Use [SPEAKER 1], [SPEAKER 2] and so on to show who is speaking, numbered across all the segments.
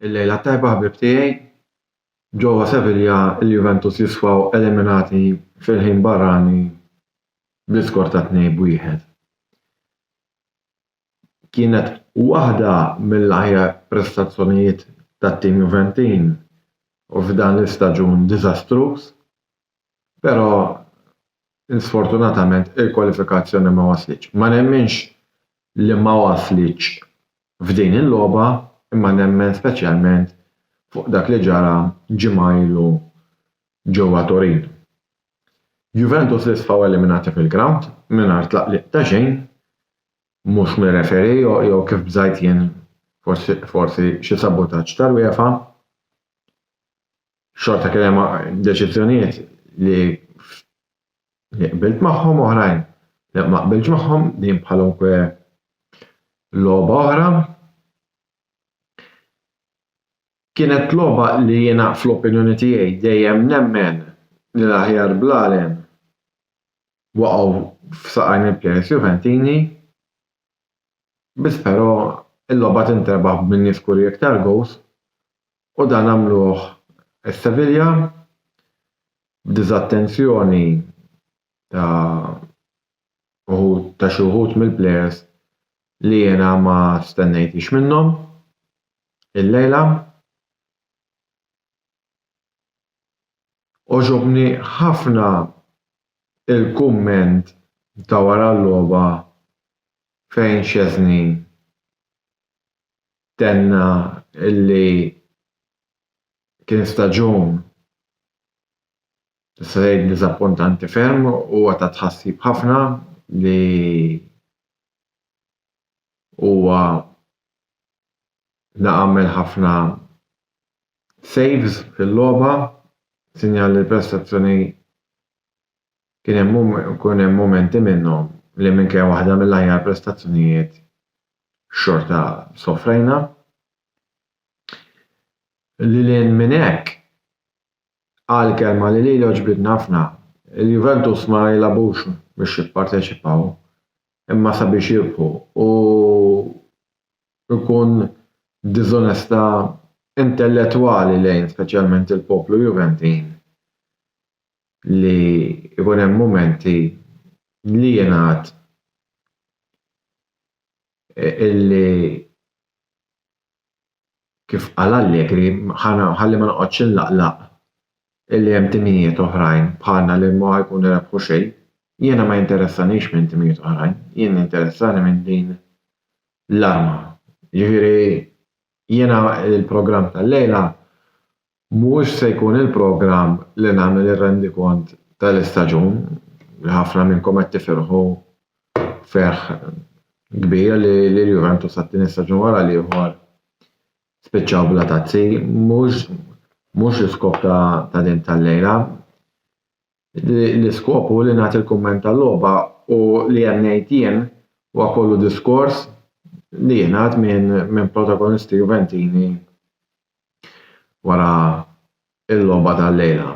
[SPEAKER 1] Il-lejla tajba ħbib tiegħi. Ġewwa Sevilla il-Juventus jisfaw eliminati fil-ħin barrani bl-iskor ta' 2 b'wieħed. kienet waħda mill-aħjar prestazzjonijiet tat-tim Juventin f'dan l-istaġun diżastruż, però sfortunatament il-kwalifikazzjoni ma waslitx. Ma nemminx li ma waslitx f'din il-logħba imma nemmen speċjalment fuq dak li ġara ġimgħa ilu ġewwa Turin. Juventus li sfaw eliminati fil-grawnd mingħajr tlaqliq ta' xejn mhux mir-referee jew kif bżajt jien forsi xi sabotaġġ tal-UEFA, xorta kien hemm deċiżjonijiet li li qbilt magħhom u oħrajn li ma qbiltx magħhom, din bħalunkwe logħba oħra. Kienet logħba li jiena fl-opinjoni tiegħi dejjem nemmen li l-aħjar bl-għalem waqgħu f'saqajn il-plejers Juventini biss però il-logħba tinterbaħ minn nies kuri iktar gowls u dan għamluh is-Sevilla b'diżattenzjoni ta' wħud ta' xi wħud mill-plejers li jiena ma stennejthiex minnhom illejla. Għoġobni ħafna il-kumment ta' wara l-logħba fejn Szczesny tenna li kien staġun nista' ngħid diżappuntanti ferm u huwa ta' tħassib ħafna li huwa għamel ħafna Saves fil-logħba, sinjal li l-prestazzjoni kien hemm mumenti minnhom li minkejja waħda mill-aħjar prestazzjonijiet xorta sofrejna. Lil hinn minn hekk, qal kelma li lili għoġbitni ħafna, il-Juventus ma jilagħbux biex jipparteċipaw, imma sabiex jirbħu u jkun diżonesta intellettwali lejn speċjalment il-poplu Juventin li jkun hemm mumenti li jingħad illi kif qal Allegri, ħalli ma noqgħodx inlaqlaq illi hemm timijiet oħrajn bħalna li ma jkunu rebħu xejn. Jiena ma jinteressanix minn timijiet oħrajn, jien jinteressani minn din l-arma. Jiġifieri jiena l-programm tal-lejla Mhux se jkun il-programm li nagħmel ir-rendikont tal-istaġun, li ħafna minnkom qed tifirħu ferħ kbir li l-Juventus għat-tieni staġun wara l-ieħor spiċċaw bla tazzi, mhux mhux l-iskop ta' din tal-lejla. l-iskop hu li nagħti l-kumment tal-logħba u li hemm ngħid jien huwa kollu diskors li jingħad minn protagonisti Juventini wara l-logħba tal-lejla.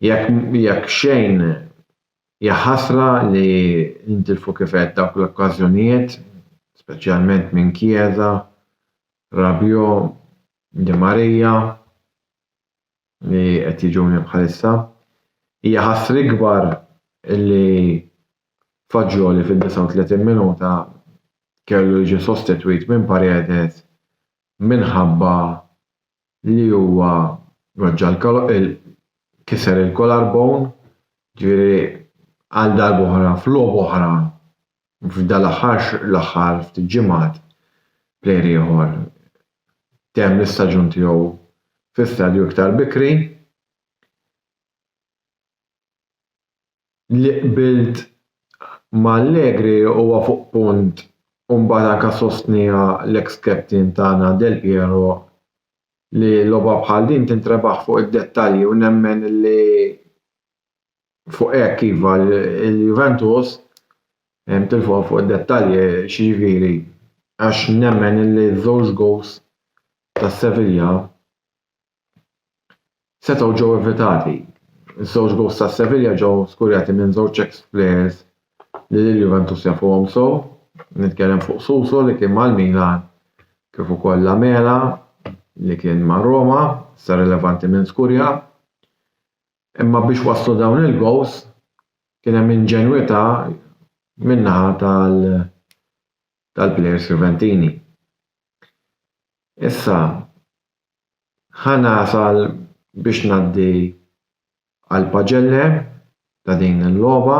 [SPEAKER 1] Jekk xejn hija ħasra li ntilfu kif għedt dawk l-okkażjonijiet, speċjalment minn Chiesa, Rabiot, Di Maria. li qed jiġuni bħalissa. Hija ħass l-ikbar li Fagioli fid-39 minuta kellu jiġi sostitwit minn Paredes minħabba li huwa weġġa' kiser il-collar bone, ġifieri għal darb'oħra f'logħba oħra f'dan l-aħħar l-aħħar ftit ġimgħat plejer ieħor temm l-istaġun tiegħu fi stadju iktar bikri li qbilt ma' Allegri huwa fuq punt u mbagħad anke sostniha l-eks captain tagħna Del Piero li logħba bħal din tintrebaħ fuq id-dettalji u nemmen li Fuq hekk iva l-Juventus tilfuha fuq id-dettalji x'jiġifieri għax nemmen li ż-żewġ goals ta' Sevilla setgħu ġew evitati. Iż-żewġ goals ta' Sevilla ġew skurjati minn żewġ ex players li lill-Juventus jafuhom sew, nitkellem fuq Suso li kien mal-Milan kif ukoll Lamela li kien ma' Roma, issa rilevanti min skurja. Imma biex waslu dawn il-gowls kien hemm inġenwità min-naħa tal-plejers Juventini. Issa ħa nasal biex ngħaddi għal paġelle ta' din il-logħba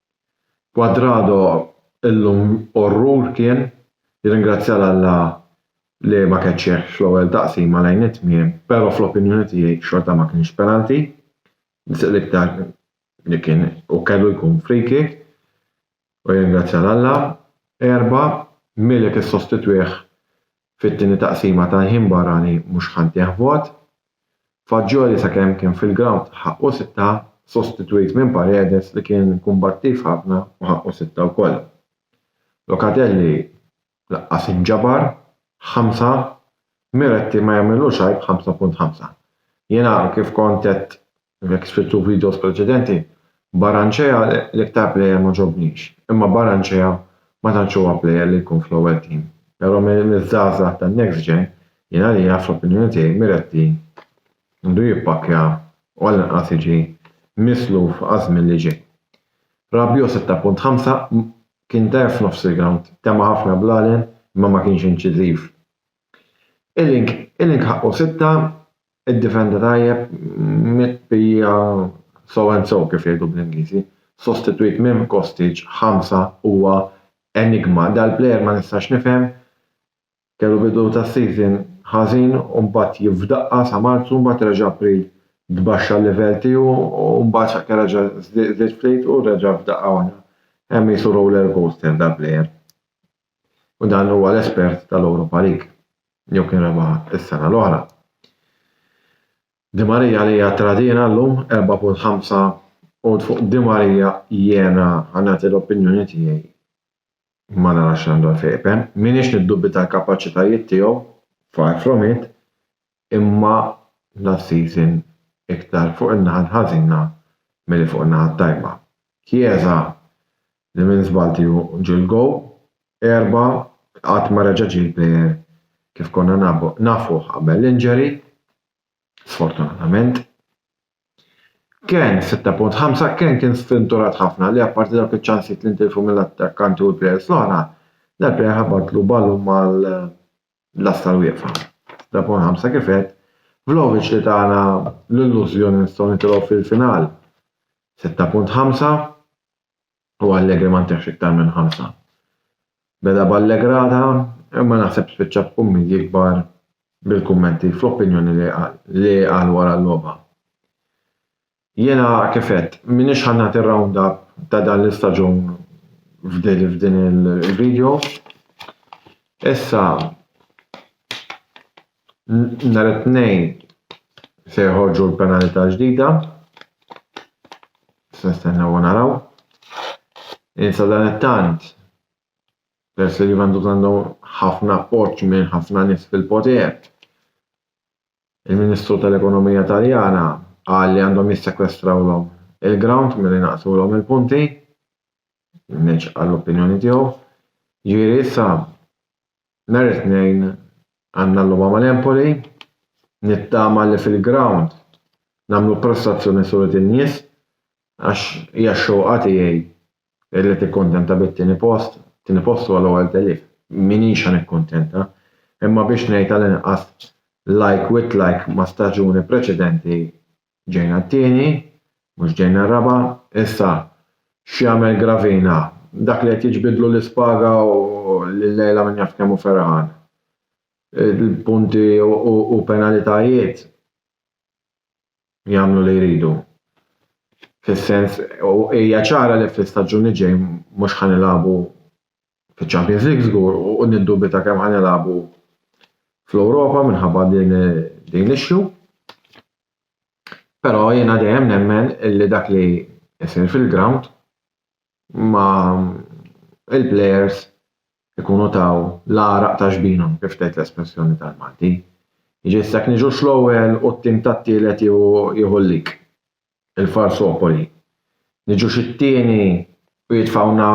[SPEAKER 1] Cuadrado illum orrur kien, jirringrazzja 'l Alla li ma kellx hekk fl-ewwel taqsima lejn it-tmiem pero fl-opinjoni tiegħi xorta ma kienx penalty, l-iktar li kien u kellu jkun free kick u jirringrazzja 'l Alla. Erba', Milik issostitwih Fit-tieni taqsima tal-ħin barrani mhux ħa ntih vot. Fagioli sakemm kien fil-grawnd ħaqqu sitta, sostitwit minn Paredes li kien kumbattiv ħafna u ħaqqu sitta wkoll. Locatelli laqqas inġabar, ħamsa. Miretti ma jagħmilux għajb 5.5. Jiena kif kont għedt Jekk sfidtu videos preċedenti, Barranchea l-iktar plejer ma ġobnix, imma Barranchea ma tantx huwa plejer li jkun fl-ewwel team. Però miż-żgħażagħ tan-next gen, jien għalija, fl-opinjoni tiegħi, Miretti għandu jippakkja u għall-inqas jiġi misluf għaż-żmien li ġej. Rabiot 6.5 Kien dgħajjef f'nofs il-grawnd, tema' ħafna bl-għalien imma ma kienx inċiżiv. Iling ħaqqu sitta Iddifenda tajjeb mit bija so and so kif jgħidu bl-Ingliżi. Sostitwit minn Kostic, ħamsa, huwa enigma. Dal-plejer ma nistax nifhem, kellu bidu tas-season ħażin u mbagħad jien f'daqqa sa Marzu mbagħad reġa' April tbaxxa l-livell tiegħu u mbagħad sakemm reġa' żdied ftit u reġa' f'daqqa waħda. Hemm qisu roller coaster dal-plejer. u dan huwa l-espert tal-Europa League, jew kien rebaħha s-sena l-oħra. Di Maria li hija tradina llum 4.5 għod fuq Di Maria jiena ħanati l-opinjoni tiegħi ma narax għandu għalfejn ipen. Minix niddubita l-kapaċitajiet tiegħu, far from it, imma last season iktar fuq in-naħa l-ħażina milli fuq in-naħa t-tajba. Chiesa li minn żball tieħu ġiel goal, erba' qatt ma reġa' ġie l-player kif konna nafuh qabel l-injury, sfortunatament. Kean, 6.5, Kean kien sfinturat ħafna li apparti dawk iċ-ċansijiet li ntilfu mill-attakkanti u l-players l-oħra, dal-player ħabatlu ballun mal l-lasta l-wieqfa. Da punt ħamsa kif qed, Vlahovic li tagħna l-illużjoni nistgħu nitilgħu fil-final. 6.5 u Allegri ma ntihx iktar minn ħamsa. Beda b'allegrata, imma naħseb spiċċa b'kummi jikbar bil-kummenti fl-opinjoni li qal wara l-logħba. Jiena kif għedt, m'iniex ħa nagħti r-round up ta' dan l-istaġun f'din il-video. Issa nhar it-tnejn se jħorġu l-penalità ġdida. Se nistennew u naraw. Insa dan it-tant peress li Juventus għandhom ħafna appoġġ minn ħafna nies fil-poter. Il-Ministru tal-Ekonomija Taljana qal li għandhom jissekwestrawlhom il-ground milli naqsulhom il-punti. Mhix għall-opinjoni tiegħu. Ġieri issa nhar it-Tnejn għandna l-logħba mal-Empoli. Nittama li fil-ground nagħmlu prestazzjoni suret in-nies għax hija x-xewqa tiegħi Li tikkuntenta bit-tieni post, it-tieni post huwa l-ewwel telif. M'iniex ħa nikkuntenta, imma biex ngħid tal-inqas like with like ma' staġuni preċedenti ġejna t-tieni, mhux ġejna r-raba'. Issa, x'jagħmel Gravina? Dak li qed jiġbidlu l-ispaga u li llejla min jaf kemm hu ferħan. Il-punti u penalitajiet jagħmlu li jridu. Fis-sens, u hija ċara li fl-istaġun li ġej mhux ħa nilagħbu fiċ-Champions League żgur u niddubita kemm ħa nilagħbu fl-Ewropa minħabba din din l-issue. Però jiena dejjem nemmen li dak li jsir fil-ground imma il-plejers ikunu taw l-għaraq ta' ġbinhom kif tgħid l-espressjoni tal-Malti. Jiġifieri issa jekk niġux l-ewwel u t-tim tat-tielet jieħu l-lik, il-Falsopoli, niġux it-tieni u jitfgħuna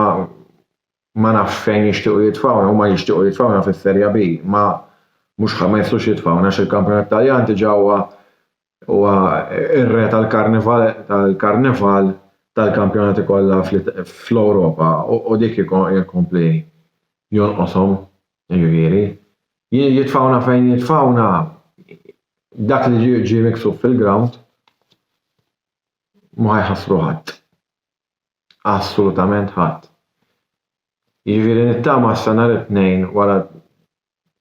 [SPEAKER 1] ma nafx fejn jixtiequ jitfgħuna, huma jixtiequ jitfgħuna fis-Serja B, imma mhux ħa ma jistgħux jitfgħuna għax il-Kampjonat Taljan diġà huwa Huwa r-re tal-karnival tal-karnival tal-kampjonati kollha fl-Ewropa u dik jkompli jonqoshom, jiġifieri. Jitfawna fejn jitfawna dak li ġie ġie miksub fil-ground ma jħassru ħadd. Assolutament ħadd. Jiġifieri nittama s-sena l-Tnejn wara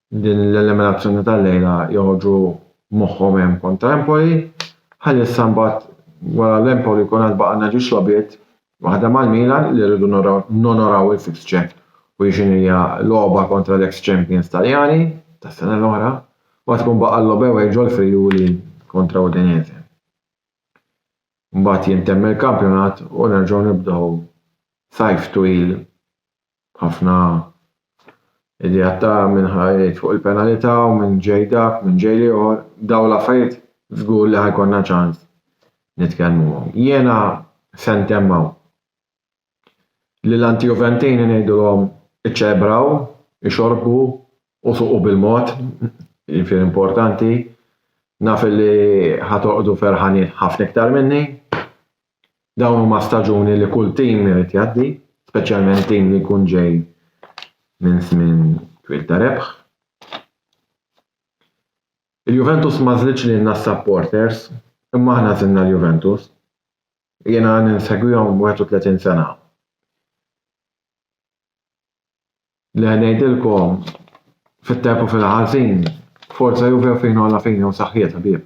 [SPEAKER 1] din l-eliminazzjoni tal-lejla joħorġu moħħhom hemm kontra Empoli, ħalli issa mbagħad wara l-Empoli jkun għad baqgħna ġiex logħbiet, waħda mal-Milan li rridu nonoraw il-fixture u jixin hija logħba kontra l-ex champions Taljani tas-sena l-oħra, mbagħad ikun baqa' l-logħba away ġol-Friuli kontra Udinese. Mbagħad jintemm il-kampjonat u nerġgħu nibdew sajf twil Ħafna ideat ta' min ħa jgħid fuq il-penalità u min ġej dak, min ġej l-ieħor, dawn l-affarijiet żgur li ħa jkollna ċans nitkellmuhom. Jiena se ntemm hawn. Lill-Antijuventini ngħidulhom iċċelebraw, ixorbu u suqu bil-mod, jiġifieri importanti, naf li ħa torqdu ferħanin ħafna iktar minni. Dawn huma staġuni li kull tim irid jgħaddi, speċjalment tim li jkun ġej minn żmien twil ta' rebħ. Il-Juventus ma żlitx lilna s-supporters, imma aħna żilna l-Juventus. Jiena ninsegwihom 31 sena. Le ngħidilkom, fit-tajjeb u fil-ħażin, Forza Juve u fina u la fina u saħħiet ħbieb.